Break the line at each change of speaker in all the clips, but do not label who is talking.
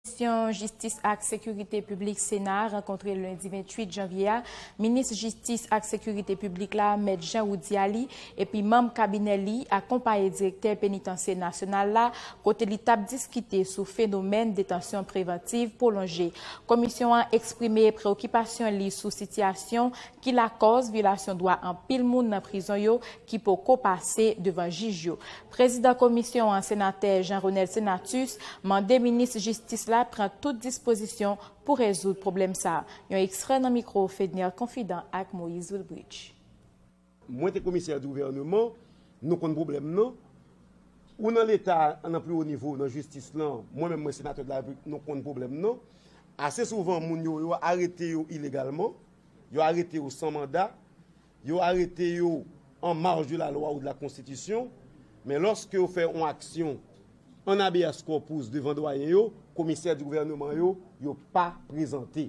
Komisyon Jistis ak Sekirite Piblik Sena a rankontre lendi 28 janvye a Minis Jistis ak Sekirite Piblik la, Mèt Jean Roudy Aly, epi manm kabinè li, akonpaye Direktè Penitansye Nasyonal la, kote li t ap diskite sou fenomèn detansyon prevantiv pwolonje. Komisyon an eksprime preokipasyon li sou sitiyasyon ki lakòz vyolasyon dwa anpil moun nan prizon yo ki poko pase devan jij yo. Prezidan komisyon an, senatè Jean Renel Senatus, mande minis jistis la pran tout dispozisyon pou rezoud pwoblèm sa. Yon ekstrè nan mikwo Fedner Confident ak Moïse Wilbridge. Mwen
te komisè gouvèneman, nou konn pwoblèm nan. Ou nan leta a nan pi wo nivo nan jistis lan, mwen menm mwen senatè de la Repiblik nou konn pwoblèm nan. Ase souvan moun yo yo arete yo ilegalman. Yo arete yo san manda, yo arete yo an marj de la lwa ou de la konstitisyon, men lòske yo fè yon aksyon an abeas kòpous devan dwayen yo, komisè di gouvèneman yo, yo pa prezante.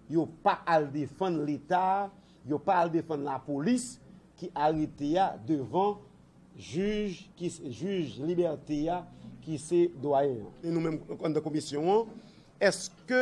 Yo pa al defann leta, yo pa al defann lapolis ki arete a devan jij ki se jij libète a ki se dwayen an. E nou menm an dan komisyon an, èske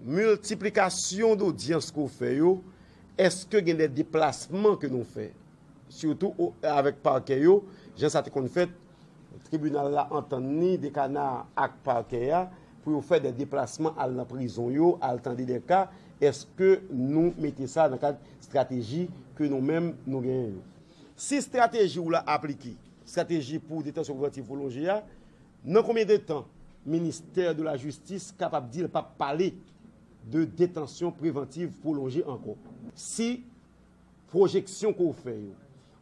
Multiplication d'audience ke w fè yo, eske gen de deplasman ke nou fè? Surtout avèk parquet yo, jan sa te konn fèt, tribunal la antann li de kana ak parquet ya, pou yo fè de deplasman al nan prizon yo, al tande de ka, eske nou mete sa nan kad strateji ke nou menm nou genyen yo? Si strateji w la aplike, strateji pou detansyon prevantiv pwolonje ya, Nan konbyen de tan ministè de la jistis kapab di l p ap pale de detansyon prevantiv pwolonje ankò? Si pwojeksyon ke w fè yo,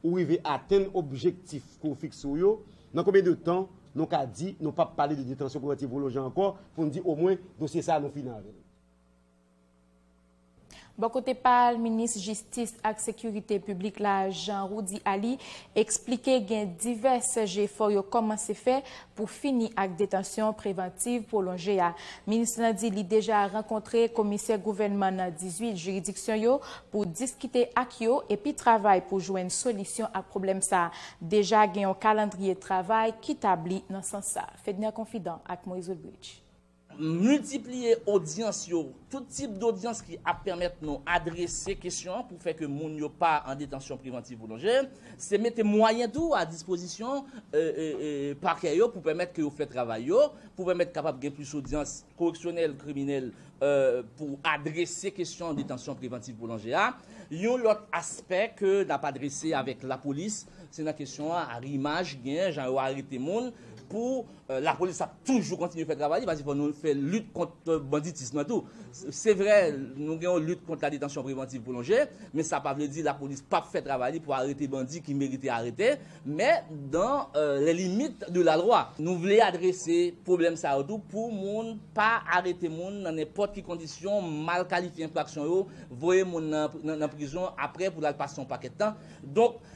ou rive atenn objektif ke w fikse w yo, nan konbyen de tan nou ka di nou p ap pale de detansyon prevantiv pwolonje ankò pou n di omwen dosye sa a nou fini avè l?
Bò kote pa l, minis jistis ak sekirite piblik la, Jean Roudy Aly, eksplike gen divès jefò yo kòmanse fè pou fini ak detansyon prevantiv pwolonje a. Minis lan di li deja rankontre komisè gouvènman nan 18 jiridiksyon yo pou diskite ak yo epi travay pou jwenn solisyon ak pwoblèm sa. Deja gen yon kalandriye travay ki tabli nan sans sa. Fedner Confident ak Moise Wilbridge. Miltipliye
odyans yo, tout tip dodyans ki ap pèmèt nou adrese kesyon an pou fè ke moun yo pa an detansyon prevantiv pwolonje, se mete mwayen tou a dispozisyon pakè yo pou pèmèt ke yo fè travay yo, pou pèmèt kapab gen plis odyans koreksyonèl, kriminèl pou adrese kesyon detansyon prevantiv pwolonje a. Yon lòt aspè ke n ap adrese avèk lapolis, se nan kesyon arimaj ki genyen, jan yo arete moun pou. Lapolis ap toujou kontinye fè travay li paske fò nou fè lit kont banditism nan tou. Se vre nou gen yon lit kont la detansyon prevantiv pwolonje, men sa pa vle di lapolis p ap fè travay li pou arete bandi ki merite arete, men dan lè limit de la lwa. Nou vle adrese pwoblèm sa yo tou pou moun pa arete moun nan nenpòt ki kondisyon, mal kalifye enfraksyon yo, voye moun nan prizon apre pou l al pase yon pakèt tan. Donk.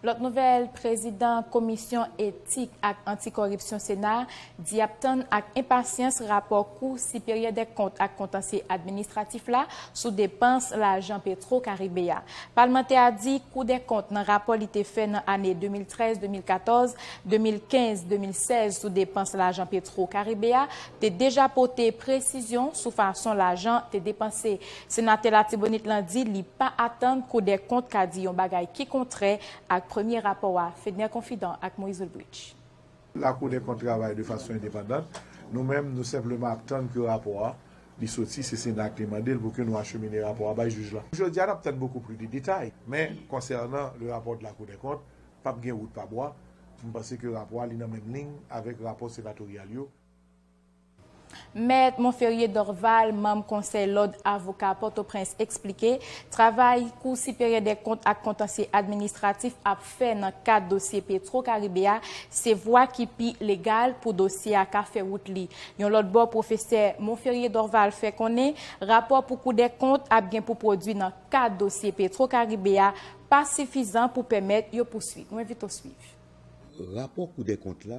Lòt nouvèl, prezidan komisyon etik ak anti-kòripsyon sena a di ap tann ak enpasyans rapò kou siperyè dè kont ak kontansye administratif la sou depans lajan petro karibe a. Palmantè a di kou dè kont nan rapò li te fè nan ane 2013, 2014, 2015, 2016 sou depans lajan petro karibe a te deja pote presizyon sou fason lajan te depanse Senatè Latibonit lan di li pa atann Koudèkont ka di yon bagay ki kontrè ak premye rapò a, Fedner Confident ak Moïse Ulbricht. Lakoudèkont
travay de fason endepandant, nou menm nou senpleman ap tann ke rapò a li soti, se Sena a ki mande l pou ke nou achemine rapò a bay jij la. Jodi a nap tann beaucoup plus de detay, men konsènan le rapport de la Cour des comptes, pap gen wout pa bwa, m panse ke rapò a li nan menm liy avèk rapò senatoryal yo.
Mèt Monferrier Dorval, manm Konsèy Lòd Avoka Pòtoprens eksplike travay Kou Siperyè dè Kont ak Kontansye Administratif ap fè nan kad dosye Petro Karibe a se vwa ki pi legal pou dosye a ka fè wout li. Yon lòt bò pwofesè Monferrier Dorval fè konnen rapò pou Kou dè Kont ap gen pou pwodwi nan kad dosye Petro Karibe a pa sifizan pou pèmèt yo pouswit. Nou envite w swiv. Rapò
Kou dè Kont la.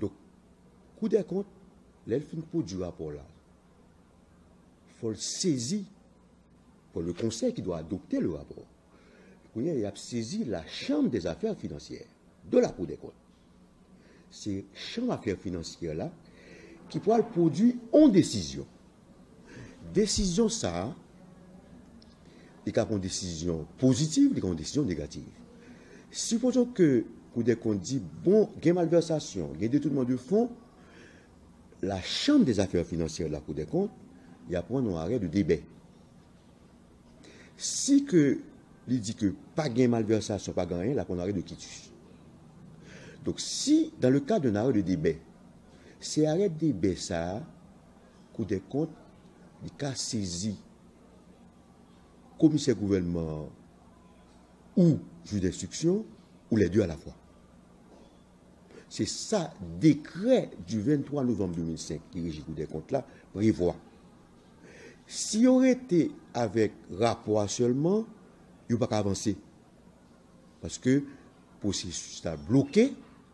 Donk, Koudèkont, lè l fin pwodui rapò la, fò l sezi, fò le Conseil qui doit adopter le rapport, kounye a y ap sezi la Chambre des affaires financières de la Cour des comptes. Se chanm afè finansyè la ki pral pwodui yon desizyon. Desizyon sa a, li ka pran desizyon pozitiv, li ka pran desizyon negativ. Sipozon ke koudèkont di, bon, gen malvèsasyon, gen detounman de fon, la chanm de zafè finansyè de la koudèkont, y a pran yon arè de debè. Si ke li di ke pa gen malvèsasyon, pa gen anyen, la pran yon arè de kitus. Donk si, dan le kad d'un arè de debè, se arè de debè sa a, Koudèkont, li ka sezi komisè gouvènman an ou jij denstriksyon ou lè de alafwa. Se sa dekrè di 23 novanm 2005 ki reji Koudèkont la prevwa. Si yo rete avèk rapò a sèlman, yo pa ka avanse paske pwosesis la bloke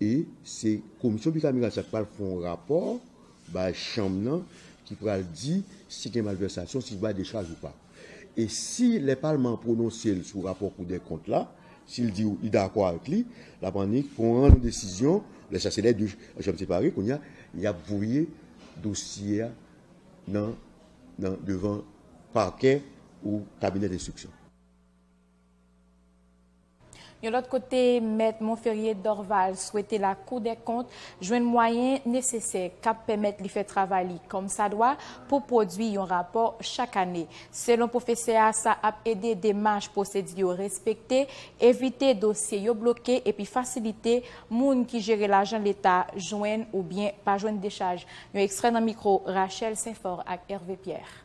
E se komisyon bikameral sa ki pral fè yon rapò bay chanm nan ki pral di si gen malvèsasyon, si bay dechaj ou pa. E si lè palman an pwononse l sou rapò koudèkont la, si l di li dakò avèk li, l ap annik pran yon desizyon, lè sa se lè de chanm separe, kounye a y ap voye dosye a nan devan pakè ou kabinè denstriksyon.
Yon lòt kote, Mèt Monferrier Dorval swete Lakou dè Kont jwenn mwayen nesesè k ap pèmèt li fè travay li kòmsadwa pou pwodui yon rapò chak ane. Selon pwofesè a, sa ap ede demach pwosedi yo respekte, evite dosye yo bloke epi fasilite moun ki jere lajan leta jwenn oubyen pa jwenn dechaj. Yon ekstrè nan mikwo Rachel St-Fort ak Hervé Pierre.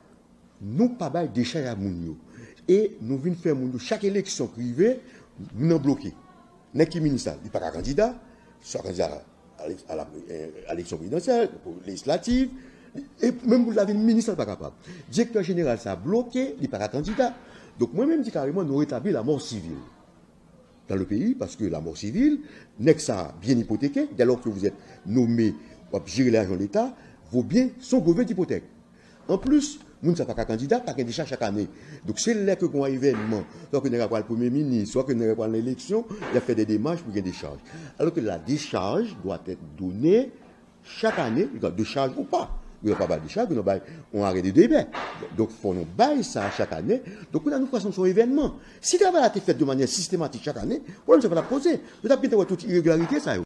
Nou pa bay dechaj a moun yo e nou vin fè moun yo chak eleksyon k rive moun nan bloke nèg ki minis la li paka kandida swa kandida a eleksyon prezidansyèl lejislativ e menm pou l ta vin minis la l pa kapab direktè jeneral sa bloke li paka kandida donk mwen menm di kareman nou retabli lamò sivil dan le peyi paske lamò sivil nèg sa byen ipoteke dèlò ke vouzèt nome w ap jere lajan leta vo byen son gove k ipotèk. An plis, moun sa pa ka kandida, pa gen de cha chak ane. Donk se lè ke gon evènman, swa ke nèg la pral premye minis, swa ke nèg la pral nan eleksyon, y ap fè de demach pou gen dechaj. Alò ke la dechaj dwa èt done chak ane, li ka de chaj ou pa. Yo ka pa bay dechaj, yo nan bay yon arè de demè. Donk fò nou bay sa chak ane. Donk kounye a nou pase nan son evènman. Si travay la te fèt de manyè sistematik chak ane, pwoblèm sa pa t ap poze. Yo t ap gentan wè tout iregilarite sa yo.